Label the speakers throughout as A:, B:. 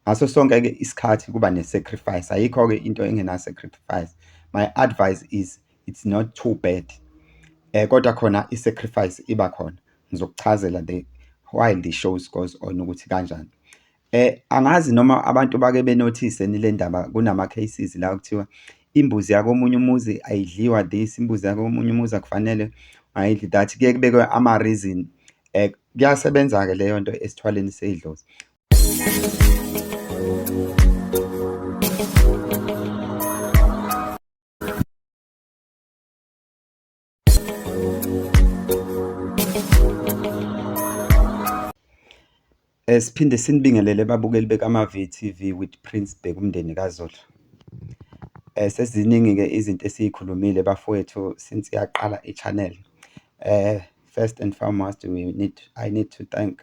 A: Ngaso sonke ke isikhathi kuba ne sacrifice ayikho ke into engena sacrifice. My advice is it's not too bad. Eh kodwa khona i sacrifice iba khona. Ngizokuchazela the why the shows goes on ukuthi kanjani. Eh angazi noma abantu bake benothise nile ndaba kunama cases la kuthiwa imbuzi yakomunye umuzi ayidliwa this imbuzi yakomunye umuzi akufanele ayidli that kuye kubekwe ama reason eh kuyasebenza ke leyo nto esithwaleni seyidlozi Eh, siphinde sinibingelele babukeli bekaMave TV with Prince Bheka umndeni kaZulu. Eh, seziningi-ke izinto esiyikhulumile bafowethu since yaqala i-channel. Eh, first and foremost we need, I need to thank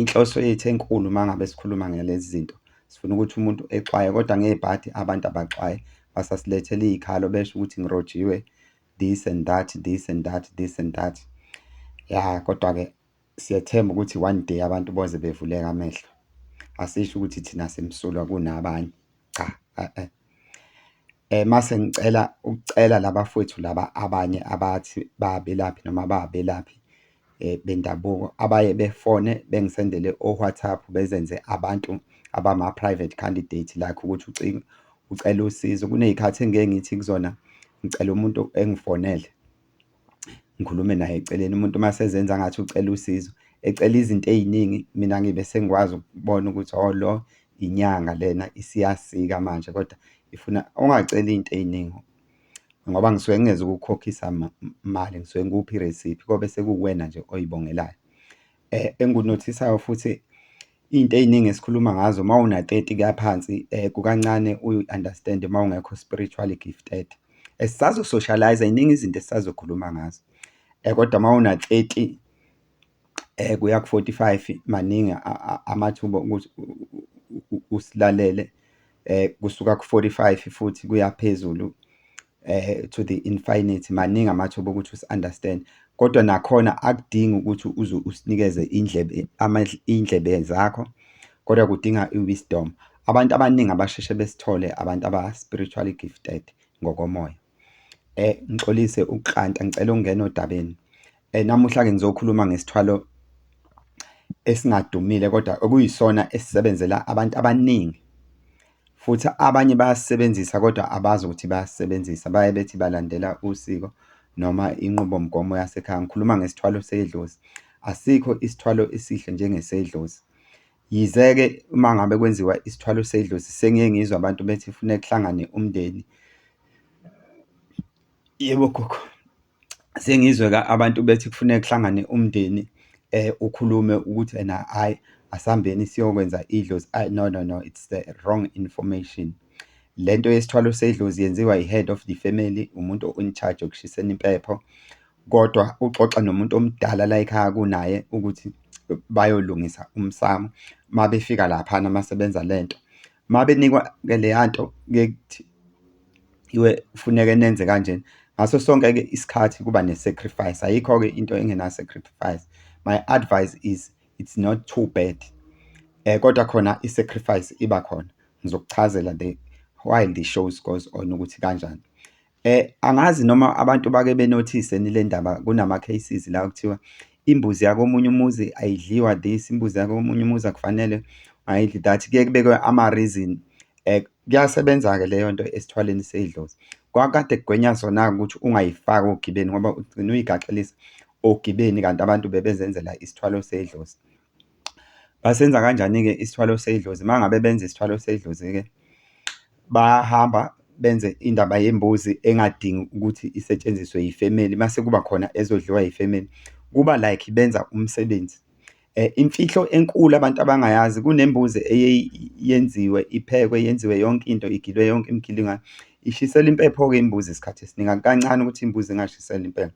A: Inhloso yethu enkulu uma ngabe sikhuluma ngalezi zinto, sifuna ukuthi umuntu exwaye kodwa ngebhadi abantu abaxwaye. Basasilethela iy'khalo besho ukuthi ngirojiwe this and that, this and that, this and that. Ya, kodwa-ke siyethemba ukuthi one day abantu boze bevuleke amehlo. Asisho ukuthi thina simsulwa kunabanye, cha . Mase ngicela ukucela laba fwethu laba abanye abathi babelaphi noma bangabelaphi bendabuko abaye befone bengisendele o-WhatsApp bezenze abantu abama-private candidate like ukuthi ucingo ucela usizo. Kuney'khathi engike ngithi kuzona ngicela umuntu engifonele. ngikhulume naye eceleni umuntu uma sezenza ngathi ucela usizo ecela izinto ey'ningi mina ngibe sengikwazi ukubona ukuthi oh lo inyanga lena isiyasika manje kodwa ifuna ungaceli iy'nto ey'ningi ngoba ngisuke ngingeze ukukhokhisa mali ngisuke ngikuphe iresiphi kobe sekuwena nje oyibongelayo. eh, engunothisayo futhi into eziningi esikhuluma ngazo uma una 30 kaphansi eh, kukancane uyu understand uma ungekho spiritually gifted esisazo eh, socialize iningi izinto esisazokhuluma ngazo eh, kodwa uma una 30 eh kuya ku 45 maningi amathuba ukuthi usilalele kusuka ku-45 futhi kuya phezulu to the infinity maningi amathuba okuthi usi-understand kodwa nakhona akudingi ukuthi uze usinikeze indlebe indlebe zakho kodwa kudinga i-wisdom abantu abaningi abasheshe besithole abantu aba-spiritually gifted ngokomoya. Ngixolise ukukranta ngicela ukungena odabeni. Namuhla-ke ngizokhuluma ngesithwalo esingadumile kodwa okuyisona esisebenzela abantu abaningi futhi abanye bayasisebenzisa kodwa abazi ukuthi bayasisebenzisa baye bethi balandela usiko noma inqubomgomo yasekhaya. Ngikhuluma ngesithwalo sedlozi. Asikho isithwalo esihle njengesedlozi. Yize-ke uma ngabe kwenziwa isithwalo sedlozi sengiye ngizwe abantu bethi kufuneka kuhlangane umndeni. Yebo gogo, sengizwe abantu bethi kufuneka kuhlangane umndeni ukhulume ukuthi ena hhayi asihambeni siyokwenza idlozi, ayi no no no it's the wrong information. Le nto yesithwalo sedlozi yenziwa yi-head of the family, umuntu o-in charge ekushiseni impepho. Kodwa uxoxa nomuntu omdala la ekhaya kunaye ukuthi bayolungisa umsamo. Uma befika laphana uma sebenza le nto, uma benikwa-ke leya nto kuye kuthi iwe kufuneke nenze kanjena. Ngaso sonke-ke isikhathi kuba ne-sacrifice, ayikho-ke into engena-sacrifice. My advice is it's not too bad. Kodwa khona i-sacrifice iba khona. Ngizokuchazela the while the shows goes on ukuthi kanjani. Angazi noma abantu bake benothise yini le ndaba, kunama-cases la okuthiwa imbuzi yakomunye umuzi ayidliwa this, imbuzi yakomunye umuzi akufanele ayidli that, kuye kubekwe ama-reason. Kuyasebenza-ke leyo nto esithwaleni sey'dlozi. Kwakukade kugwenya sona-ke ukuthi ungayifaki ogibeni ngoba ugcine uyigaxelisa ogibeni kanti abantu bebezenzela isithwalo sey'dlozi. Basenza kanjani-ke isithwalo sedlozi? Uma ngabe benza isithwalo sedlozi-ke bahamba benze indaba yembuzi engadingi ukuthi isetshenziswe yifemeli uma sekuba khona ezodliwa yifemeli, kuba like benza umsebenzi. Imfihlo enkulu abantu abangayazi kunembuzi eye yenziwe iphekwe yenziwe yonke into, igilwe yonke imigilingo, ishiselwa impepho-ke imbuzi isikhathi esiningi. Akukancane ukuthi imbuzi ingashiselwa impepho.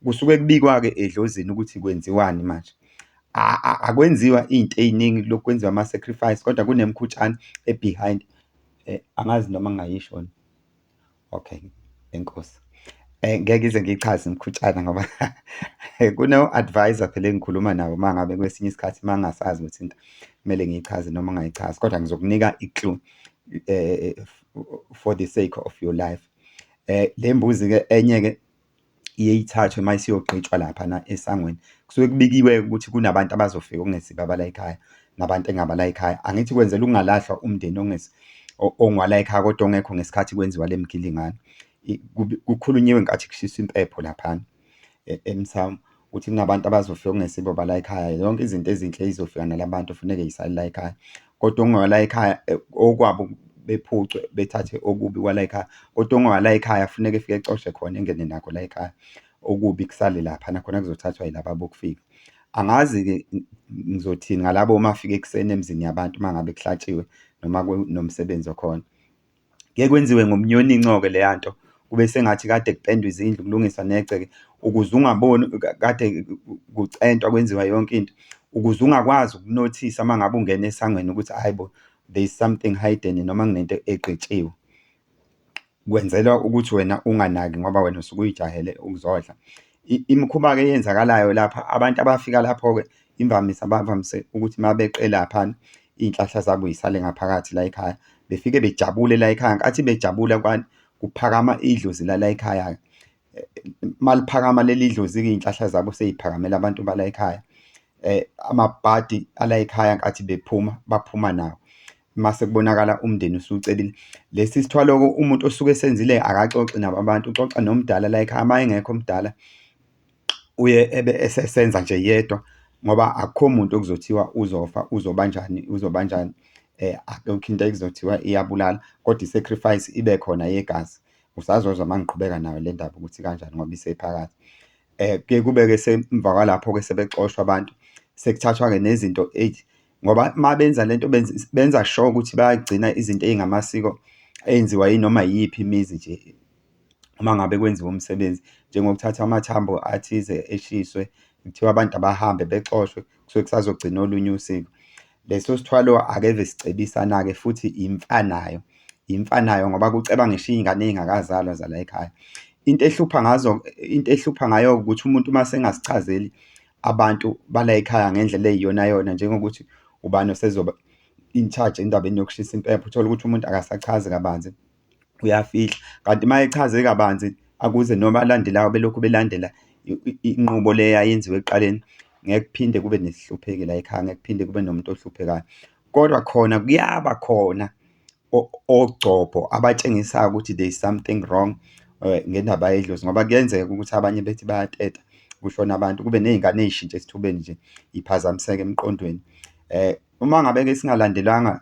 A: Kusuke kubikwa-ke edlozini ukuthi kwenziwani manje. Akwenziwa iy'nto ey'ningi kulokhu kwenziwa ama-sacrifice, kodwa kunemkhutshana e-behind. Angazi noma ngingayisho yona? Okay, enkosi. Ngeke ngize ngiyichaze imikhutshana ngoba kuno-advisor phela engikhuluma nawo uma ngabe kwesinye isikhathi uma ngingasazi ukuthi into kumele ngiyichaze noma ngingayichazi, kodwa ngizokunika i-clue for the sake of your life. Le mbuzi-ke enye-ke iye ithathwe uma isiyogqitshwa laphana esangweni kusuke kubikiwe ukuthi kunabantu abazofika okungesibo abala ekhaya nabantu engabala ekhaya angithi kwenzela ukungalahlwa umndeni ongwala ekhaya kodwa ongekho ngesikhathi kwenziwa le mgilingane kukhulunyiwe ngathi kushiswa impepho laphana e, emsamu ukuthi kunabantu abazofika okungesibo bala ekhaya yonke izinto ezinhle izofika nalabantu funeke yisali la ekhaya kodwa ongawala ekhaya eh, okwabo bephucwe bethathe okubi kwala ekhaya kodwa ongawala ekhaya funeke efike ecoshe khona engene nakho la ekhaya okubi kusale lapha nakhona kuzothathwa yilaba bokufika angazi-ke ngizothini ngalabo uma afike ekuseni emzini yabantu uma ngabe kuhlatshiwe noma kunomsebenzi okhona Kuye kwenziwe ngomnyoninco-ke leya nto, kube sengathi kade kupendwa izindlu, kulungiswa negceke ukuze ungaboni kade kucentwa kwenziwa yonke into, ukuze ungakwazi ukunothisa uma ngabe ungena esangweni ukuthi hhayi bo, there is something hidden noma kunento egqitshiwe. Kwenzelwa ukuthi wena unganaki ngoba wena usuke uyijahele ukuzodla. Imikhuba-ke eyenzakalayo lapha, abantu abafika lapho-ke Imvamisa bavamise ukuthi uma beqe laphana iy'nhlahla zabo y'sale ngaphakathi layikhaya. Befike bejabule layikhaya, nkathi bejabula kwani, kuphakama idlozi lalay'khaya-ke. Uma liphakama leli dlozi-ke iy'nhlahla zabo sey'phakamele abantu balayikhaya. Amabhadi alayikhaya nkathi bephuma, baphuma nawo. Mase kubonakala umndeni usucebile. Lesi sithwalo-ke umuntu osuke esenzile akaxoxi nabo abantu, uxoxa nomdala layikhaya, uma engekho omdala uye ebe esesenza nje yedwa ngoba akukho muntu okuzothiwa uzofa uzobanjani uzobanjani akukho into ekuzothiwa iyabulala kodwa i-sacrifice ibe khona yegazi. Usazozwa uma ngiqhubeka nayo le ndaba ukuthi kanjani ngoba isephakathi. Kuye kube-ke emva kwalapho-ke sebexoshwa abantu sekuthathwa-ke nezinto eyi ngoba uma benza le nto benza sho ukuthi bayagcina izinto ezingamasiko enziwa yinoma iyiphi imizi nje. uma ngabe kwenziwa umsebenzi, njengokuthatha amathambo athize eshiswe, kuthiwa abantu abahambe bexoshwe, kusuke kusazogcina olunye usiko. Leso sithwalo akeve sicebisana-ke futhi imfa nayo, imfa nayo ngoba kuceba ngisho iy'ngane ey'ngakazalwa zala y'khaya. Into ehlupha ngazo, into ehlupha ngayo ukuthi umuntu uma esengasichazeli abantu balay'khaya ngendlela eyiyonayona, njengokuthi ubani osezoba in charge endabeni yokushisa impepho, uthole ukuthi umuntu akasachazi kabanzi. uyafihla kanti uma echaze kabanzi akuze noma alandelayo belokhu belandela inqubo le yayenziwa ekuqaleni ngeke kuphinde kube nesihlupheki la ekhaya ngeke kuphinde kube nomuntu ohluphekayo kodwa khona kuyaba khona ogcobho abatshengisayo ukuthi there is something wrong um ngendaba yedlozi ngoba kuyenzeka ukuthi abanye bethi bayateta kushona abantu kube ney'ngane ey'shintshe esithubeni nje iphazamiseke emqondweni um uma ngabe-ke singalandelanga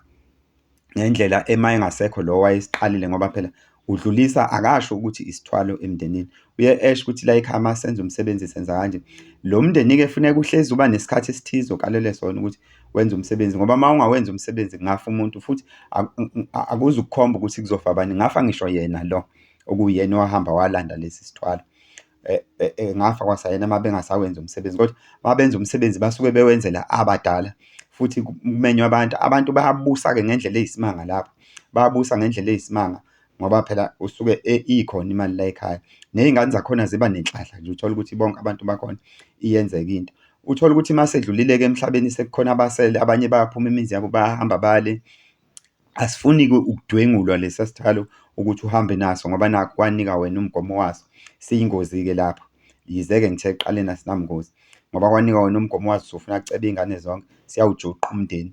A: ngendlela ema engasekho lo wayesiqalile ngoba phela udlulisa akasho ukuthi isithwalo emndenini uye esho ukuthi la ekhaya uma senza umsebenzi senza kanje lo mndeni-ke funeka uhlezi uba nesikhathi esithize okalele sona ukuthi wenza umsebenzi ngoba uma ungawenza umsebenzi kungafa umuntu futhi akuzukukhomba ukuthi kuzofa abanye ngafa ngisho yena lo okuwuyena owahamba walanda lesi sithwalo Eh, eh, eh, ngafa kwasayena uma bengasawenzi umsebenzi kodwa uma benza umsebenzi basuke bewenzela abadala futhi kumenywa abantu abantu bayabusa-ke ngendlela eyisimanga lapho bayabusa ngendlela eyisimanga ngoba phela usuke e-, ikhona imali la ekhaya ney'ngane zakhona ziba nenhlahla nje uthole ukuthi bonke abantu bakhona iyenzeka into uthole ukuthi uma sedlulile-ke emhlabeni sekukhona abasele abanye bayaphuma imizi yabo bayahamba bale Asifuni-ke ukudwengulwa lesa sikhalo ukuthi uhambe naso ngoba nakhu kwanika wena umgomo waso. Siyingozi-ke lapho. Yize-ke ngithe ekuqaleni asinabungozi ngoba kwanika wena umgomo waso usufuna kucebe iy'ngane zonke, siyawujuqa umndeni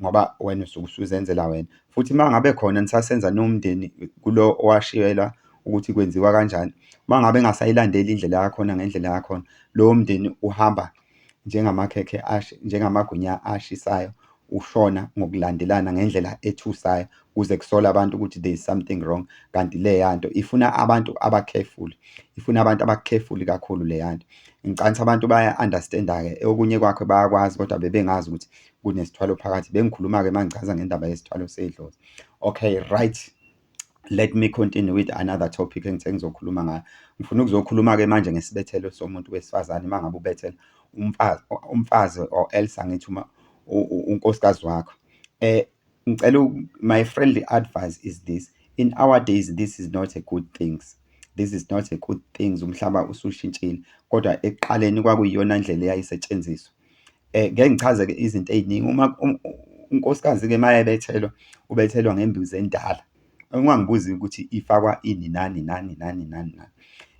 A: ngoba wena usuke usuzenzela wena. Futhi uma ngabe khona nisasenza niwumndeni kulo owashiyelwa ukuthi kwenziwa kanjani, uma ngabe engasayilandeli indlela yakhona ngendlela yakhona, lowo mndeni uhamba-ke. njengamakhekhe njengamagwinya ashisayo ushona ngokulandelana ngendlela ethusayo kuze kusole abantu ukuthi there is something wrong kanti leyanto ifuna abantu abacareful ifuna abantu abacareful kakhulu leyanto ngicanisa abantu baya understand ke okunye kwakhe bayakwazi kodwa bebengazi ukuthi kunesithwalo phakathi bengikhuluma ke mangichaza ngendaba yesithwalo sedlozi okay right let me continue with another topic engithe ngizokhuluma ngayo ngifuna ukuzokhuluma-ke manje ngesibethelo somuntu wesifazane uma ngabe ubethela umfazi umfazi or else angithi uma unkosikazi wakho eh ngicela my friendly advice is this in our days this is not a good things this is not a good things umhlaba usushintshile kodwa ekuqaleni kwakuyiyona ndlela eyayisetshenziswa Ngeke ngichaze-ke izinto ey'ningi. Uma unkosikazi-ke uma ebethelwa, ubethelwa ngembuzi endala. Ungangibuzi ukuthi ifakwa ini, nani, nani, nani, nani, nani.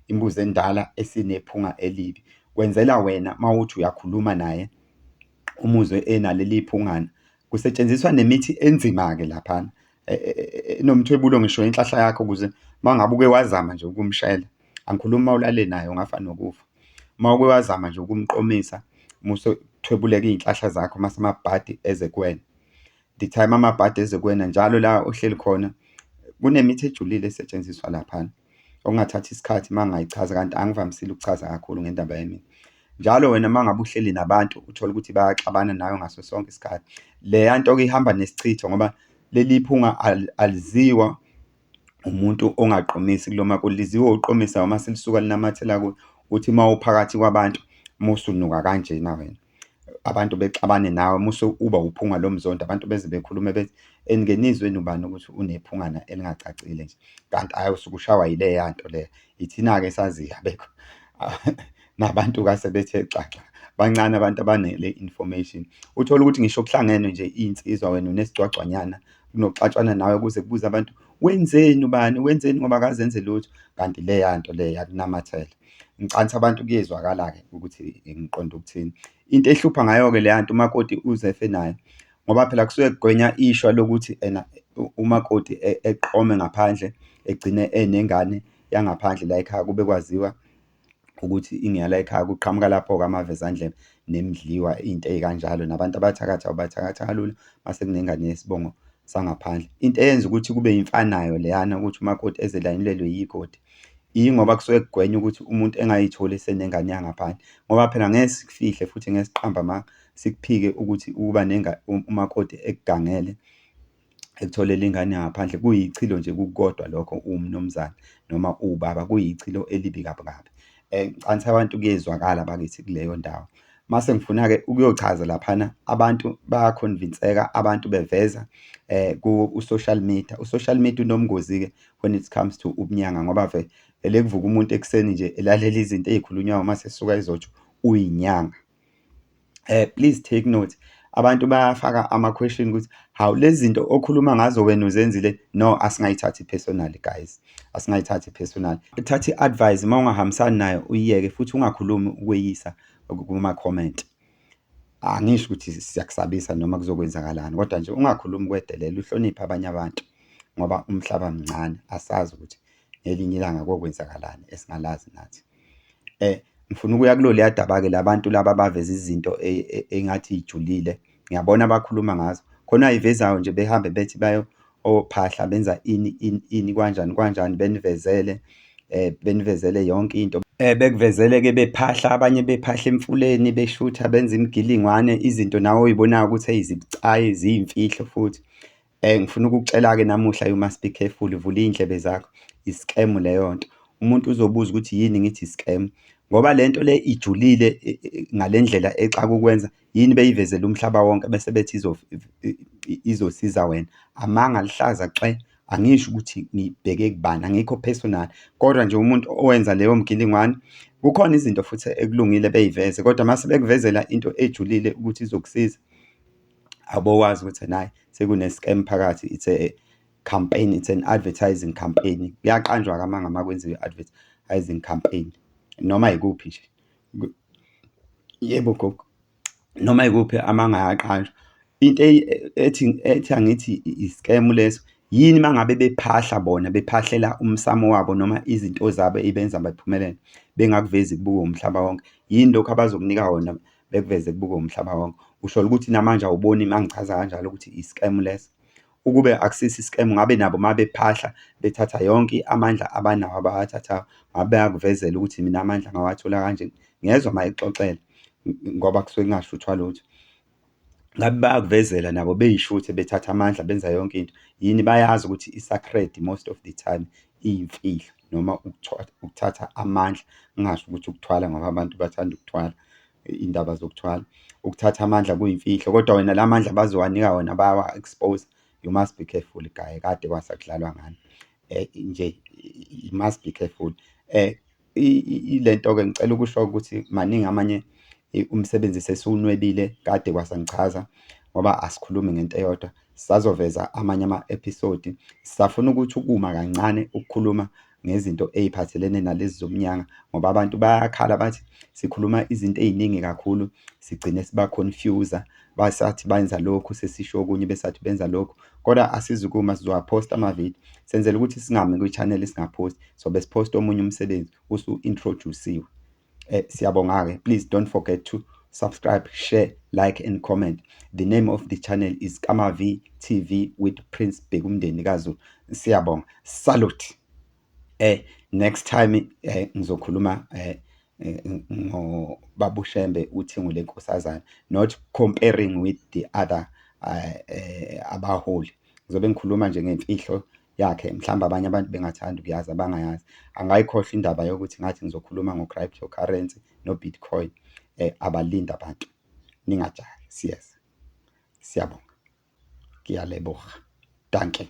A: Imbuzi endala esinephunga elibi. Kwenzela wena uma uthi uyakhuluma naye, umuzwe enaleli phungana, kusetshenziswa nemithi enzima-ke laphana e, e, e, enomthwebulo ngisho inhlahla yakho ukuze uma ngabe uke wazama nje ukumshela angikhulumi uma ulale naye ungafa nokufa uma uke wazama nje ukumqomisa musothwebuleka iy'nhlahla zakho uma samabhadi eze kuwena the time amabhadi eze kuwena njalo la ohleli khona kunemithi ejulile esetshenziswa laphana okungathatha isikhathi uma ngayichaza kanti angivamisile ukuchaza kakhulu ngendaba yemithi njalo wena uma ngabe uhleli nabantu uthole ukuthi bayaxabana nayo ngaso sonke isikhathi leya nto-ke ihamba nesichitho ngoba leli phunga aliziwa umuntu ongaqomisi kuloma kuliziwa uqomisa uma selisuka linamathela kuwe uthi uma uphakathi kwabantu musunuka kanjena wena abantu bexabane nawe muse uba uphunga lo mzondo abantu beze bekhulume bethi engenizweni ubani ukuthi unephungana elingacacile nje kanti ayi usuke ushawa yileya nto leyo Ithina-ke esaziyo abekho nabantu kase bethe xaxa bancane abantu abanele information uthola ukuthi ngisho kuhlangene nje insizwa wena unesigcwagcwanyana kunoxatshwana nawe kuze kubuze abantu wenzeni ubani wenzeni ngoba akazenze lutho kanti leya nto leyo yakunamathela ngicanisa abantu kuyezwakala-ke ukuthi ngiqonda ukuthini into ehlupha ngayo-ke leya nto umakoti uzefe nayo ngoba phela kusuke kugwenya ishwa lokuthi ena umakoti eqome ngaphandle egcine enengane yangaphandle layikhaya kube kwaziwa ukuthi ingeyalayikhaya. Kuqhamuka lapho-ke amavezandlebe nemidliwa into ey'kanjalo nabantu abathakathi abathakathi kalula mase kunengane yesibongo sangaphandle. Into eyenza ukuthi kube imfanayo leyana ukuthi umakoti eze elayinilelwe yigodi yingoba kusuke kugwenywa ukuthi umuntu engayitholi esenengane yangaphandle ngoba phela ngeke sikufihle futhi ngeke siqambe amanga sikuphike ukuthi ukuba nenga umakoti ekugangele ekutholela ingane yangaphandle kuyichilo nje kukodwa lokho umnumzane noma ubaba kuyichilo elibi kabi kabi um ngicani abantu kuyezwakala bakithi kuleyo ndawo mase ngifuna-ke ukuyochaza laphana abantu bayakhonvinseka abantu beveza eh ku-social media u-social media unomngozi-ke when it comes to ubunyanga ngoba vele kuvuka umuntu ekuseni nje elalela izinto ey'khulunywayo uma sesuka ezotsho uyinyanga eh please take note abantu bayafaka ama question ukuthi how lezi zinto okhuluma ngazo wena uzenzile no asingayithathi personal guys asingayithathi personal thatha iadvice uma ungahambisani nayo uyiyeke futhi ungakhulumi ukweyisa kuma comment angisho ukuthi siyakusabisa noma kuzokwenzakalani kodwa nje ungakhulumi kwedelela uhloniphe abanye abantu ngoba umhlaba mncane asazi ukuthi ngelinye ilanga kokwenzakalani esingalazi nathi Ngifuna ukuya kuloliya daba-ke labantu laba abaveza izinto ey'ngathi y'julile. Ngiyabona bakhuluma ngazo. Khona abay'vezayo nje behambe bethi bayo ophahla benza ini ini ini kwanjani kwanjani, benivezele benivezele yonke into. Bekuvezele-ke bephahla abanye bephahla emfuleni beshutha benza imigilingwane, izinto nawe oy'bonayo ukuthi eyi zibucayi ziyimfihlo futhi. Eh ngifuna ukukucela-ke namuhla you must be careful vula iy'ndlebe zakho i-scam leyo nto. Umuntu uzobuza ukuthi yini ngithi i-scam ngoba le nto le ijulile ngale ndlela exaka ukwenza yini beyivezele umhlaba wonke bese bethi izosiza wena. Amanga aluhlaza cwe, angisho ukuthi ngibheke kubani angikho personal kodwa nje umuntu owenza leyo mgilingwane kukhona izinto futhi ekulungile beyiveze kodwa mase bekuvezela into ejulile ukuthi izokusiza. awubokwazi ukuthi ena hhayi sekune-scam phakathi it's a campaign it's an advertising campaign kuyaqanjwa-ke amanga uma kwenziwa i-advertising campaign noma yikuphi nje yebo gogo noma yikuphi amanga ayaqanjwa into e-, ethi ethi angithi i-scam leso yini mangabe bephahla bona bephahlela umsamo wabo noma izinto zabo ebenza baphumelele bengakuvezi kubuka umhlaba wonke yini lokho abazokunika wona bekuveze kubuke umhlaba wonke ushola ukuthi namanje awuboni mangichaza kanjalo ukuthi i-scam leso ukube akusisi i-scam ngabe nabo mabephahla bethatha yonke amandla abanawo abawathathayo ngabe bayakuvezela ukuthi mina amandla ngawathola kanje ngezwa mayixoxela ngoba kusuke kungashuthwa lutho ngabe bayakuvezela nabo beyishuthe bethatha amandla benza yonke into yini bayazi ukuthi i-sacred most of the time iy'mfihlo noma ukuthatha amandla, ngingasho ukuthi ukuthwala ngoba abantu bathanda ukuthwala, iy'ndaba zokuthwala. Ukuthatha amandla kuyimfihlo, kodwa wena la mandla abazobanika wona bayawa-expose. You must be careful guy, kade kwasa kudlalwa ngani nje, you must be careful. Ile nto-ke ngicela ukusho ukuthi maningi amanye umsebenzi sesiwunwebile kade kwasangichaza ngoba asikhulumi ngento eyodwa. Sisazoveza amanye ama-episode. Sisafuna ukuthi ukuma kancane ukukhuluma ngezinto ey'phathelene nalezi zobunyanga ngoba abantu bayakhala bathi sikhuluma izinto ey'ningi kakhulu, sigcine siba-confuse-a. basathi benza lokhu sesisho okunye besathi benza lokhu kodwa asizukuma sizowaphosta ama-video senzela ukuthi singami kwi-channel singaphosti sobe siphosta omunye umsebenzi usu-introduciwe um eh, siyabonga-ke please don't forget to subscribe share like and comment the name of the channel is kamav tv with prince bhekumndeni kazulu siyabonga salute Eh next time eh ngizokhuluma eh ngo babushembe uthingo lenkosazana not comparing with the other eh, eh abaholi ngizobe ngikhuluma nje ngemfihlo yakhe mhlawumbe abanye abantu bengathanda ukuyazi abangayazi angayikhohlwa indaba yokuthi ngathi ngizokhuluma ngo-cryptocurrency no-bitcoin eh, abalinde abantu ningajahi siyeza siyabonga ngiyalebuha danke